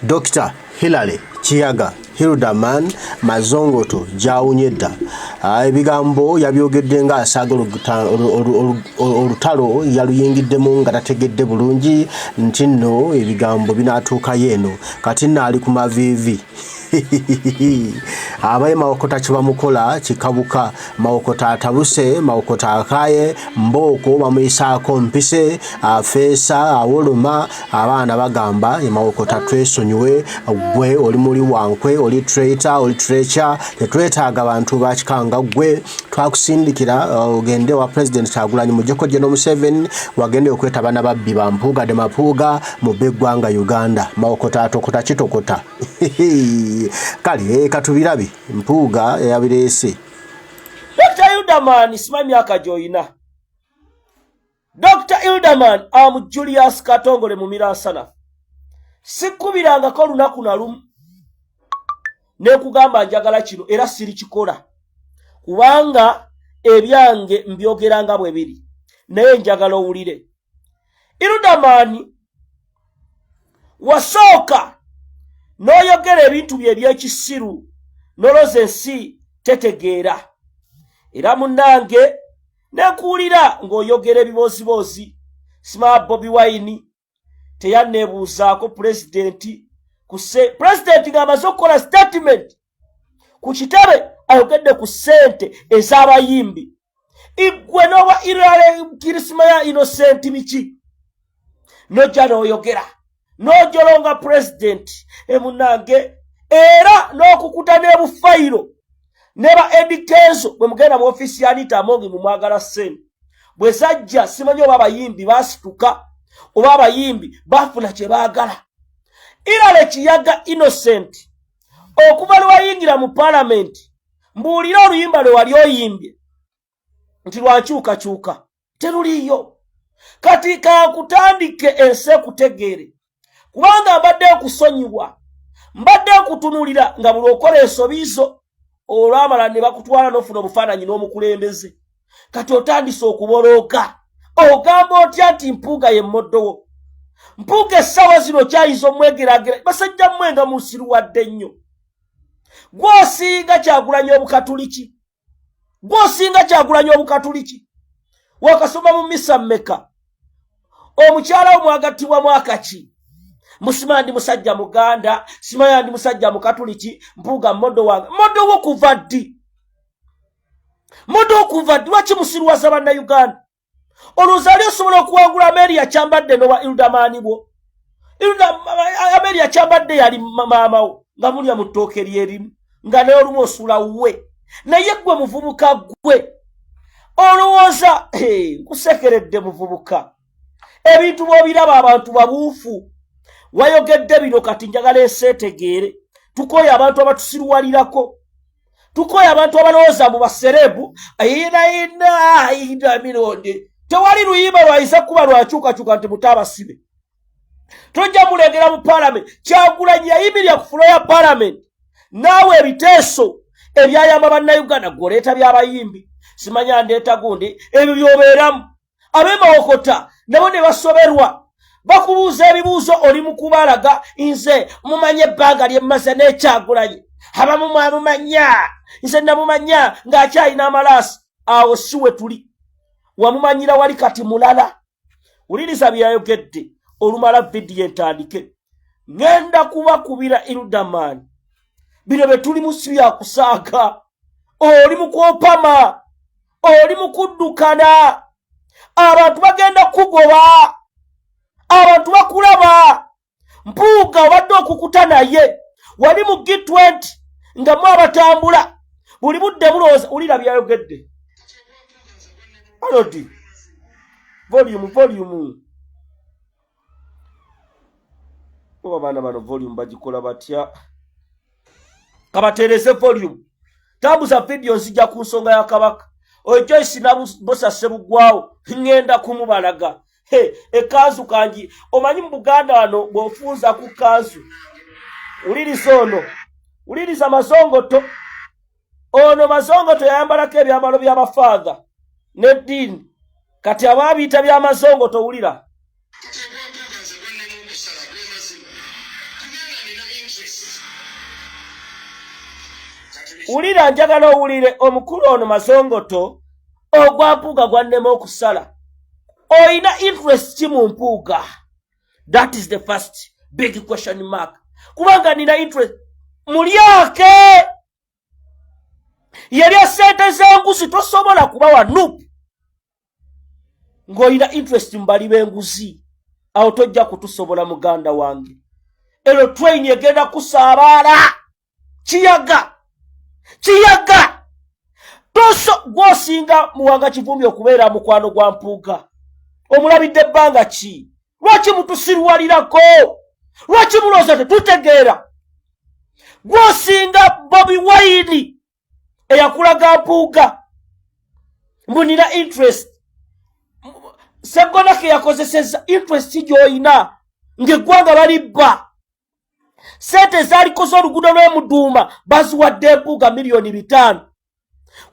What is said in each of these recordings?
Dr. Hilary Kiyaga Hilderman Mazongoto gyawunye dda ah, ebigambo yabyogedde nga asaaga olutalo yaluyingiddemu nga tategedde bulungi nti nno ebigambo binatuukayo eno kati nno ali ku maviivi abaye mawokota kibamukola kikabuka mawokota atabuse mawokota akaye mbooko bamuyisaako mpise afeesa awoloma abaana bagamba emawokota twesonyiwe gwe oli muli wankwe oli traita oli treca tetwetaaga bantu bakikanga gwe twakusindikira uh, ogende wa president kyagulanyi mujeko geno museven wagende okweta bana babbi bampuuga de mapuuga mu beggwanga uganda mawokota atokota kitokota kale eh, katubirabe mpuuga yabireese dr ilderman simanyi myaka gyoyina dr ilderman amu julius katongole mu miransana sikkubirangako olunaku na lumu nekugamba njagala kino era sirikikola kubanga ebyange mbyogeranga bwe biri naye njagala owulire irudamaani wasooka n'oyogera ebintu bye eby'ekisiru noloza ensi tetegeera era munnange nekuwulira ng'oyogera ebibooziboozi sima bobi wayini teyanneebuuzaako pulezidenti kuse pulezidenti ng'amaze okukola sitatimenti ku kitebe ayogedde ku ssente ez'abayimbi igwe n'oba irale kirisima ya inosenti biki nojja n'oyogera n'ojolonga pulezidenti emunange era n'okukuta n'ebufayiro ne ba edikeezo bwe mugenda mu ofiisi ya nita amongi mu mwagala ssente bwe zajja simanyi oba abayimbi baasituka oba abayimbi baafuna kye baagala irale kiyaga inosenti okuva lweyayingira mu palamenti mbuulire oluyimba lwe wali oyimbye nti lwankyukakyuka teruliiyo kati kankutandike ensi ekutegeere kubanga mbadde okusonyiwa mbadde okutunulira nga buli okola ensobi zo olwamala ne bakutwala n'ofuna obufaananyi n'omukulembeze kati otandise okubolooka ogamba otya nti mpuuga ye mmoddowo mpuuga essaawa zino kyayinza omwegeraagera basajja mmwe nga musiruwadde nnyo gwosinga kyagulanya obukatuliki gwosinga kyagulanya obukatuliki wakasoma mu misa mmeka omukyala wo mwagattibwa mwaka ki musima ndi musajja muganda simaya ndi musajja mukatuliki mpuuga modo wange modo wo kuva ddi muda okuva lwaki musiruwaza bannayuganda olowooza ali osobola okuwangula ameeri yakyambadde nowa ildamaani bwo ameeri yakyambadde yali maamawo nga mulya mu ttooke lyerimu nga naye olumu osula wuwe naye gwe muvubuka gwe olowooza nkusekeredde muvubuka ebintu bwobiraba abantu babuufu wayogedde bino kati njagala eseetegeere tukooye abantu abatusiruwalirako tukooye abantu abalowooza mu baserebu ayinainainamirondi tewali luyimba lwayinza kuba lwakyukakyuka nti mutaabasibe tojja mulengera mu palamenti kyagulanyi yayimirya ku fulo ya palamenti naawe ebiteeso ebyayamba bannayuganda gwoleeta byabayimbi simanya ndeeta gundi ebyo byobeeramu abemawokota nabo ne basoberwa bakubuuza ebibuuzo oli mukubalaga nze mumanya ebbanga lyemmaze nekyagulanyi abamu mwamumanya nze namumanya ng'akyalina amalaasi awo si we tuli wamumanyira wali kati mulala wuliriza byeyayogedde olumala vidiyo entandike ŋenda kubakubira irudamani bino bye tulimu si byakusaaga oli mukwopama oli mukuddukana abantu bagenda kugoba abantu bakulaba mpuuga obadde okukuta naye wali mu g20 nga mu abatambula buli budde bulowooza wulira byayogedde alodi volume volume oba abaana bano volume bagikola batya kabatereze volume tambuza vidiyo nzija ku nsonga ya kabaka oyo joyce nabosa sebugwawo ŋŋenda kumubalaga he ekanzu kangi omanyi mu buganda wano bw'ofunza ku kanzu wuliriza ono wuliriza mazongoto ono mazongo teyayambalako ebyambalo byabafaatha neddiini kati abaabiyita byamazongo towulira wulira njagala owulire omukulu ono mazongoto ogwa mpuuga gwannema okusala olina interest ki mu mpuuga that is the first big question mark kubanga nina interest mulyake yalya sente zenguzi tosobola kubawa nup ng'olina interest mubali b'enguzi awo tojja kutusobola muganda wange ero train egenda kusaabaala kiyaga kiyaga toso gwosinga muwanga kivumbi okubeera mukwano gwa mpuuga omulabidde ebbanga ki lwaki mutusirwalirako lwaki mulooza tetutegeera gwosinga bobi waini eyakulaga mpuuga mbu nina interest segonake yakozeseza interest gyoyina ngaeggwanga balibba sente ezalikoze oluguudo lw'emuduuma baziwadde mpuuga miliyoni bitaano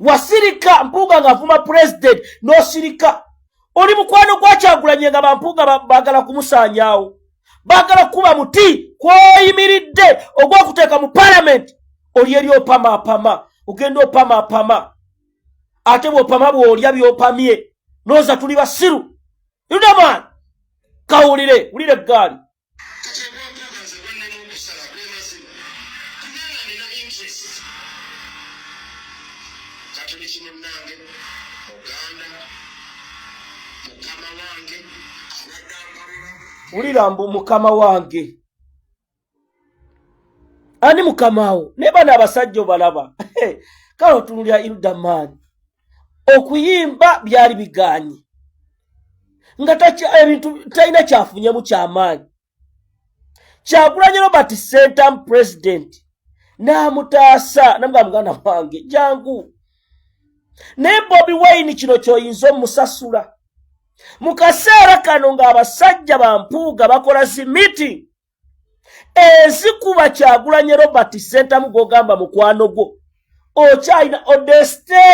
wasirika mpuuga ng'avuma pulezidenti n'osirika oli mukwano gwakyagulanye nga bampuuga baagala kumusaanyaawo baagala kukuba muti kwoyimiridde ogw'okuteeka mu palamenti oli eri opamaapama ogenda opamaapama ate bw'opama bw'olya by'opamye nooza tuli basiru yudamaani kawulire wulire eggaali katoliki munnange muganda mukama wange wulira mbu mukama wange ani mukamawo naye bana abasajja obalaba kale otunulira ilda maani okuyimba byali bigaanyi nga ebintu talina kyafunyemu kyamaanyi kyagulanyi robert sentam president n'amutaasa namuga muganda wange jangu naye bobi wayini kino kyoyinza omusasula mu kaseera kano ng'abasajja bampuuga bakola zi meeting ezikuba kyagulanye robert sentamu gwogamba mukwano gwo okyalina odeste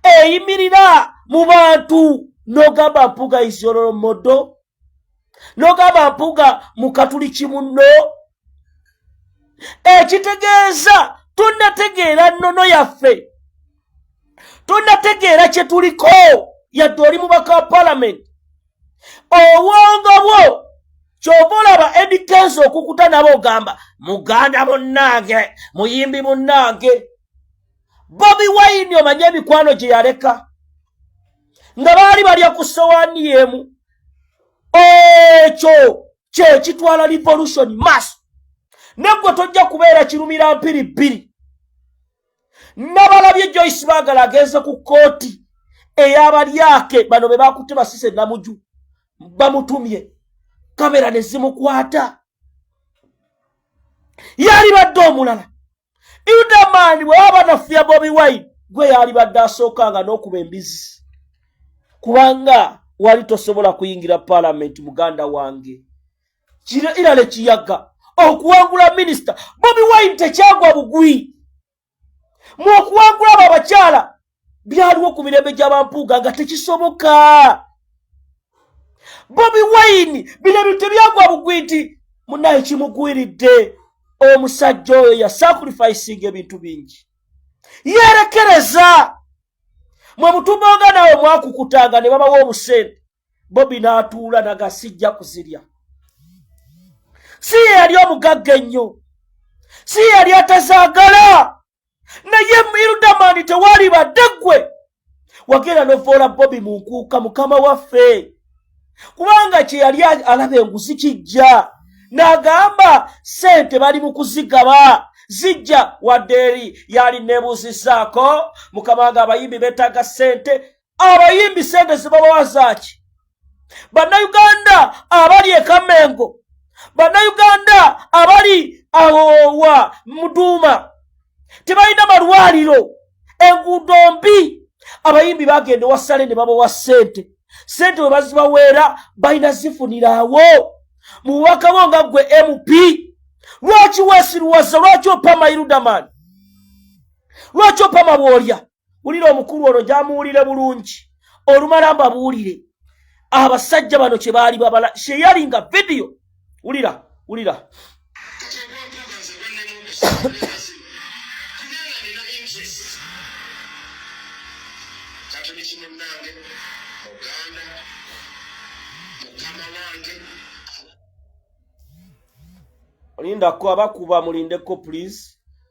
eyimirira mu bantu nogamba mpuga isyololo modo nogamba mpuga mukatuli kimunno ekitegeeza tonategeera nnono yaffe tonategeera kye tuliko yadde oli mubaka wa palamenti obwongo bwo kyova olaba edikensi okukuta nabo ogamba muganda munnange muyimbi munnange bobi wayini omanye emikwano gye yaleka nga baali balya ku sowaani yemu ekyo kyekitwala revolution mass negwe tojja kubeera kirumira mpiri bbiri nabalabye joyce bagala agenze ku kooti eyabalyake bano bebakutte basise namuju bamutumye kamera nezimukwata yalibadde omulala idaman bweba banafuya bobi wine gwe yalibadde asookanga n'okuba embizi kubanga wali tosobola kuyingira palamenti muganda wange kira ira ne kiyaga okuwangula minisita bobi wine tekyagwa bugwi mu okuwangula abo abakyala byaliwo ku mirembe gy'abampuuga nga tekisoboka bobi wine bino bintu tebyagwa bugwi nti munaye kimugwiridde omusajja oyo yasacrificinga ebintu bingi yerekereza mwe mutumbanga nawe mwakukutanga ne babawa obusente bobi n'atuula naga sijja kuzirya si ye yali omugagga ennyo si ye yali atazaagala naye irudamani tewali badde ggwe wagenda novoola bobi mu nkuuka mukama waffe kubanga kye yali alaba enguzi kijja n'agamba ssente bali mu kuzigaba zijja wadde eri yali nebuuzizaako mukama nga abayimbi betaaga ssente abayimbi sente zibabawa zaaki bannayuganda abali ekamengo bannayuganda abali awowa muduuma tebalina malwaliro enguudo mbi abayimbi bagenda ewasale ne babawa sente sente we bazibaweera balina zifuniraawo mu bubaka bo nga ggwe mp lwaki wesiruwaza lwaki opama irudamani lwaki opama bwolya wulira omukulu ono gyamuwulire bulungi olumala mbabuulire abasajja bano kye baali babala sheyali nga vidiyo wulira wulira Linda ko abakuba mulindeko please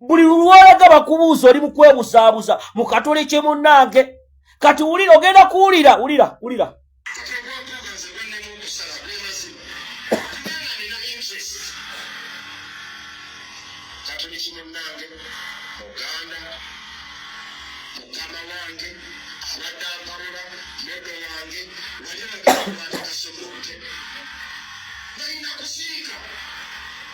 buli lulwalaga bakubuuza oli mukwebuzaabuza mukatole kye munnange kati wulira ogenda kuwulira wulira wulira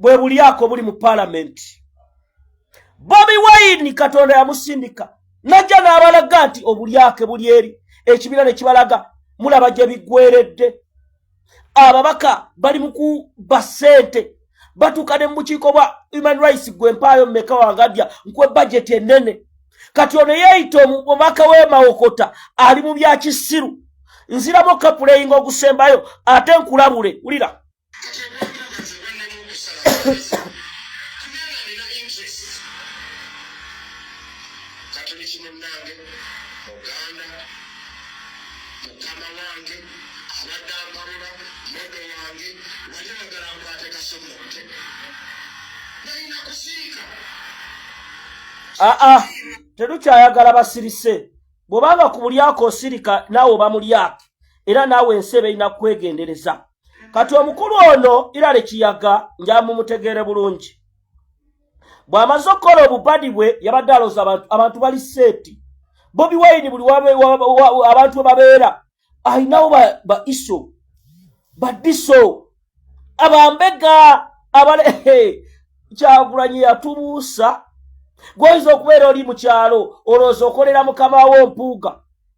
bwe bulyako buli mu paalamenti bobi wayini katonda yamusindika najja n'abalaga nti obulyake buli eri ekibiina ne kibalaga mulaba gye biggweredde ababaka bali mu kuba ssente batuuka ne mu bukiiko bwa human rights gwe mpaayo mumeka wangadya nkwe bajeti ennene kati ono yeeyita omubaka w'emawokota ali mu byakisiru nziramu kapuleyinga ogusembayo ate nkulabule wulira katoliki munnange muganda mukama wange abadde ampalula modo wange wali agala nkwate kasomote nalina kusiika aa ah, ah. terukyayagala basirise bwobanga ku bulyako osirika naawe oba mulyake era naawe ensi eba erina kukwegendereza kati omukulu ono irale kiyaga njamumutegeere bulungi bw'amaze okukola obubadi bwe yabadde alooza abantu bali seeti bobi wayini buli abantu webabeera alinawo ba iso badiso abambega abale kyagulanyi yatubuusa gwoyinza okubeera oli mu kyalo olowooza okolera mukama wo mpuuga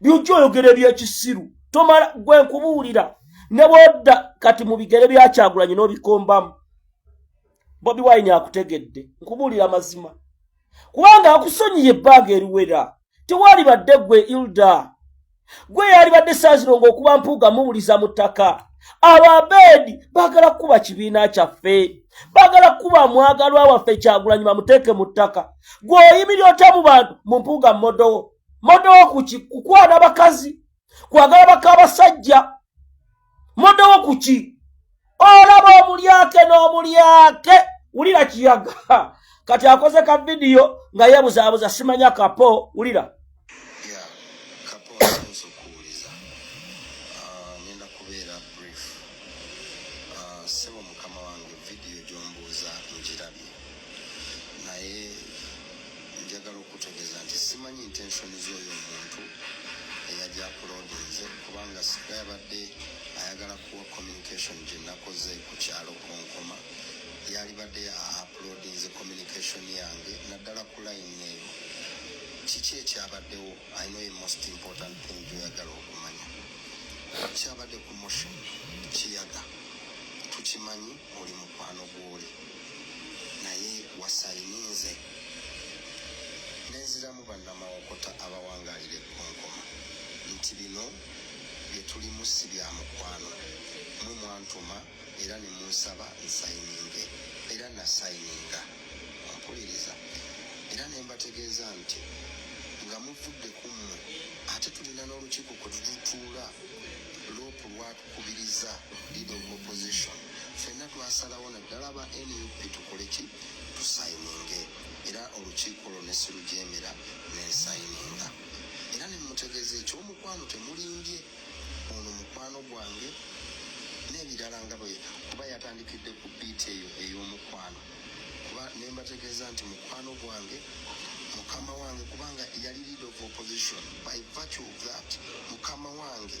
byojja oyogera ebyekisiru tomala gwe nkubuulira ne bwodda kati mu bigere byakyagulanyi n'obikombamu bobi wine akutegedde nkubuulira amazima kubanga akusonyiye ebbanga eriwera tewali badde gwe ilda gwe yali badde saazironga okuba mpuuga muwuliza mu ttaka abo abeedi baagala kukuba kibiina kyaffe baagala kukuba mwagalwa waffe kyagulanyi bamuteeke mu ttaka gweoyimiri otya mu bantu mu mpuuga mmodowo modowo kuki kukwana bakazi kwagala bakabasajja modowo kuki olaba omulyake n'omulyake wulira kiyaga kati akoze ka vidiyo nga yebuzaabuza simanya kapo wulira naye njagala okutegeza nti simanyi intensioni z'oyo omuntu eyajja akulodinze kubanga singa yabadde ayagala kuwa communication gye nakoze ku kyalo kunkuma yalibadde aplodinze communication yange naddala ku line eyo kiki ekyabaddewo i know a most important thing gyoyagala okumanya kyabadde ku motion kiyaga tukimanyi oli mukwano gwoli naye wasayininze nenziramu bannamawokota abawangalira ekkonkoma nti bino byetulimu si bya mukwano mwe mwantuma era ne munsaba nsayininge era nasayininga ompuliriza era ne mbategeeza nti nga muvudde ku mmwe ate tulina n'olukiiko kwe tututuula loopu lwatu kubiriza leader of opposition fenna twasalawo naddala aba nup tukole ki tusayininge era olukiiko lwo ne sirujeemera nensayininga era ne mutegeeza ekyomukwano temulimbye ono mukwano gwange n'ebirala nga bwe kuba yatandikidde ku biiti eyo ey'omukwano kuba ne mbategeeza nti mukwano gwange mukama wange kubanga yali lead of opposition by virtue of that mukama wange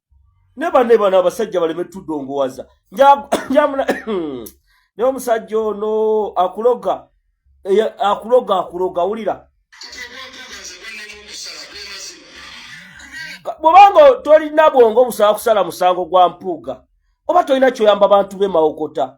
ne bane bano abasajja baleme tudongowaza njamuna ne omusajja ono akuloga akuloga akuloga wulira bwobanga tolina bwongo busaba kusala musango gwa mpuuga oba tolina kyoyamba bantu bemawokota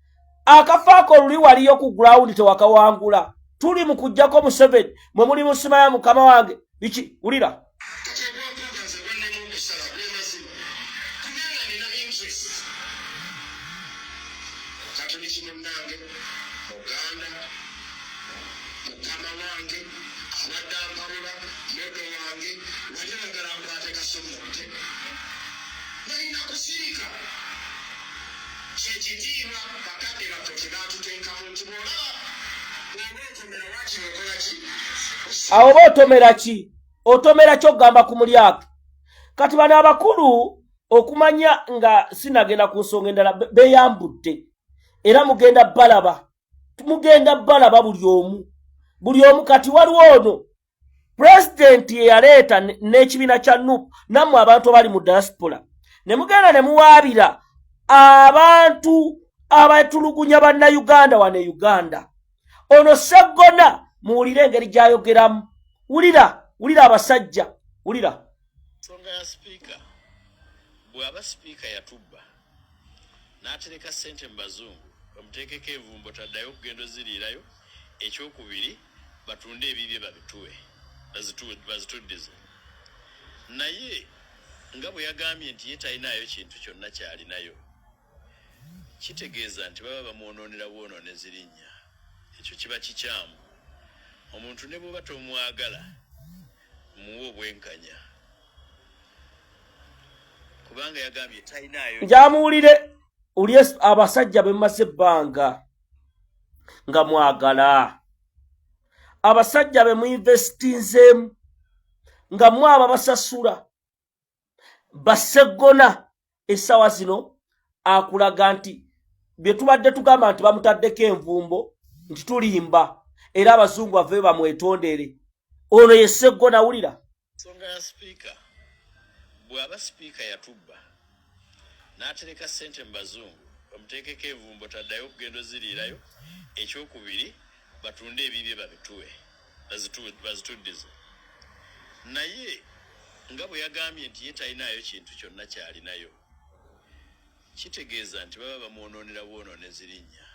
akafaako oluli waliyo ku grawundi tewakawangula tuli mu kujjako museveni mwe muli musimaya mukama wange biki wulira kyekitiibwa bakadde baffe kyebatuteekamu nti bwolaba bwoba otomera wakiri okola ki awo oba otomera ki otomera kyokugamba ku mulyake kati bano abakulu okumanya nga sinagenda ku nsonga endala beyambudde era mugenda balaba mugenda balaba buli omu buli omu kati waliwo ono pulezidenti yeyaleeta n'ekibiina kya nup nammwe abantu abali mu diaspora ne mugenda ne muwaabira abantu abatulugunya bannayuganda wano e uganda ono seggona muwulire engeri gy'ayogeramu wulira wulira abasajja wulira nsonga ya sipiika bw'aba sipiika yatubba n'atereka ssente mu bazungu bamuteekeko envumbo taddayo okugenda oziriirayo ekyokubiri batunde ebibye babituwe bazituddize naye nga bwe yagambye nti ye talinayo kintu kyonna kyalinayo Kitegeeza nti baba bamwonoonera bwonoonezi linnya. Ekyo kiba kikyamu. Omuntu ne bw'oba tomwagala, muwe obwenkanya kubanga yagambye talinaayo. Njamuwulire uli abasajja be mumaze ebbanga nga mwagala abasajja be muinvestinzeemu nga mwaba basasula baseggona essawa zino akulaga nti bye tubadde tugamba nti bamutaddeko envumbo nti tulimba era abazungu bave bamwetondere ono ye seggona wulira nsonga ya sipiika bw'aba sipiika yatubba n'atereka ssente mu bazungu bamuteekeko envumbo taddayo okugenda oziriirayo ekyokubiri batunde ebibye babituwe bazituddize naye nga bwe yagambye nti ye talinaayo kintu kyonna kyalinayo kitegeeza nti baba bamwonoonera bwonoone zirinnya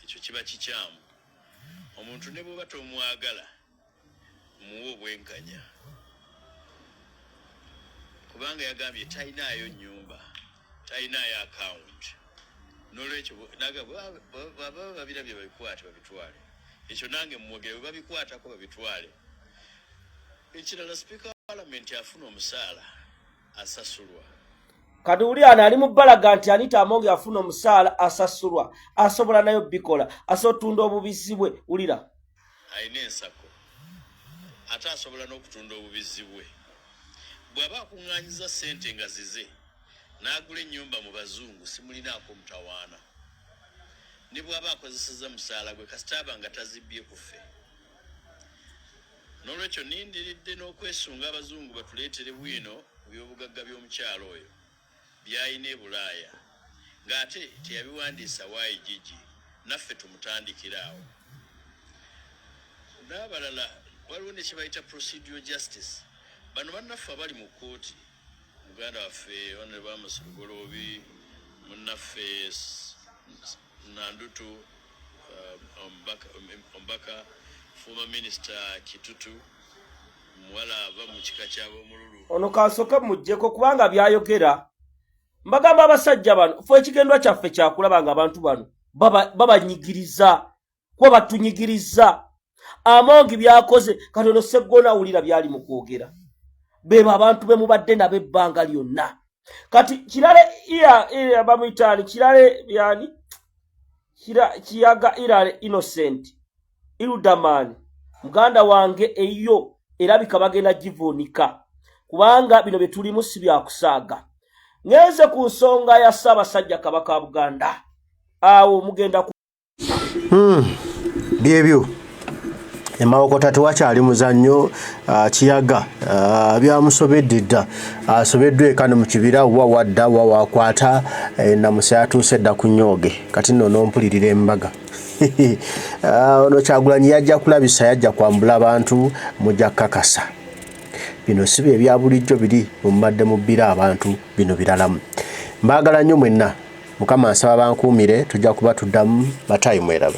ekyo kiba kikyamu omuntu ne bwoba tomwagala muwe obwenkanya kubanga yagambye talinaayo nyumba talinayo akawunti nolwekyo naga baba babirabye babikwate babitwale ekyo nange mumwogere bwe babikwatako babitwale ekirala sipiika wa palamenti afuna omusaala asasulwa kati wuli ana ali mubalaga nti anita amonge afuna omusaala asasulwa asobola nayo bikola asotunda obubizi bwe wulira alina ensako ate asobola n'okutunda obubizzi bwe bw'aba akuŋŋaanyiza ssente nga zize n'agula ennyumba mu bazungu simulinaako mutawaana ne bw'aba akozeseza musaala gwe kasitaaba nga tazibbye ku ffe n'olwekyo nindiridde n'okwesunga abazungu batuleetere bwino ku byobugagga by'omukyalo oyo byayina ebulaaya nga ate teyabiwandiisa why jiji naffe tumutandikira awo nabalala waliwo nekyebayita procedural justice bano banaffe abali mu kooti muganda waffe onre bamusilugoloobi munaffe Nandutu, uh, Ombaka, um, Ombaka, former minister Kitutu, muwala ava mu kika ky'ab'omululu. Ono kansooke mujjeko kubanga byayogera mbagamba abasajja bano fe ekigendwa kyaffe kyakulaba nga abantu bano babanyigiriza baba kuba batunyigiriza amongi byakoze katono seggona awulira byali mu kwogera bebo abantu be mubadde nabo ebbanga lyonna kati kirale bamuyitaani kirale yani kiyaga irale innocent ildaman muganda wange eyo erabika bagenda givuunika kubanga bino bye tulimu si byakusaaga ngenze ku nsonga ya ssaabasajja kabaka buganda awo mugenda Hmm. byebyo emawokota tewakyali muzannyo ah, kiyaga ah, byamusobedde dda asobeddwa eka ne mu kibira wa wadda wa wakwata eh, namusa yatuuse dda ku nyooge kati nno nompulirira embaga ah, ono kyagulanyi yajja kulabisa yajja kwambula abantu mujja kukakasa bino si bye bya bulijjo biri mubadde mubbira abantu bino biralamu mbaagala nnyo mwenna Mukama nsaba bankuumire tujja kuba tuddamu. Matayi mweraba.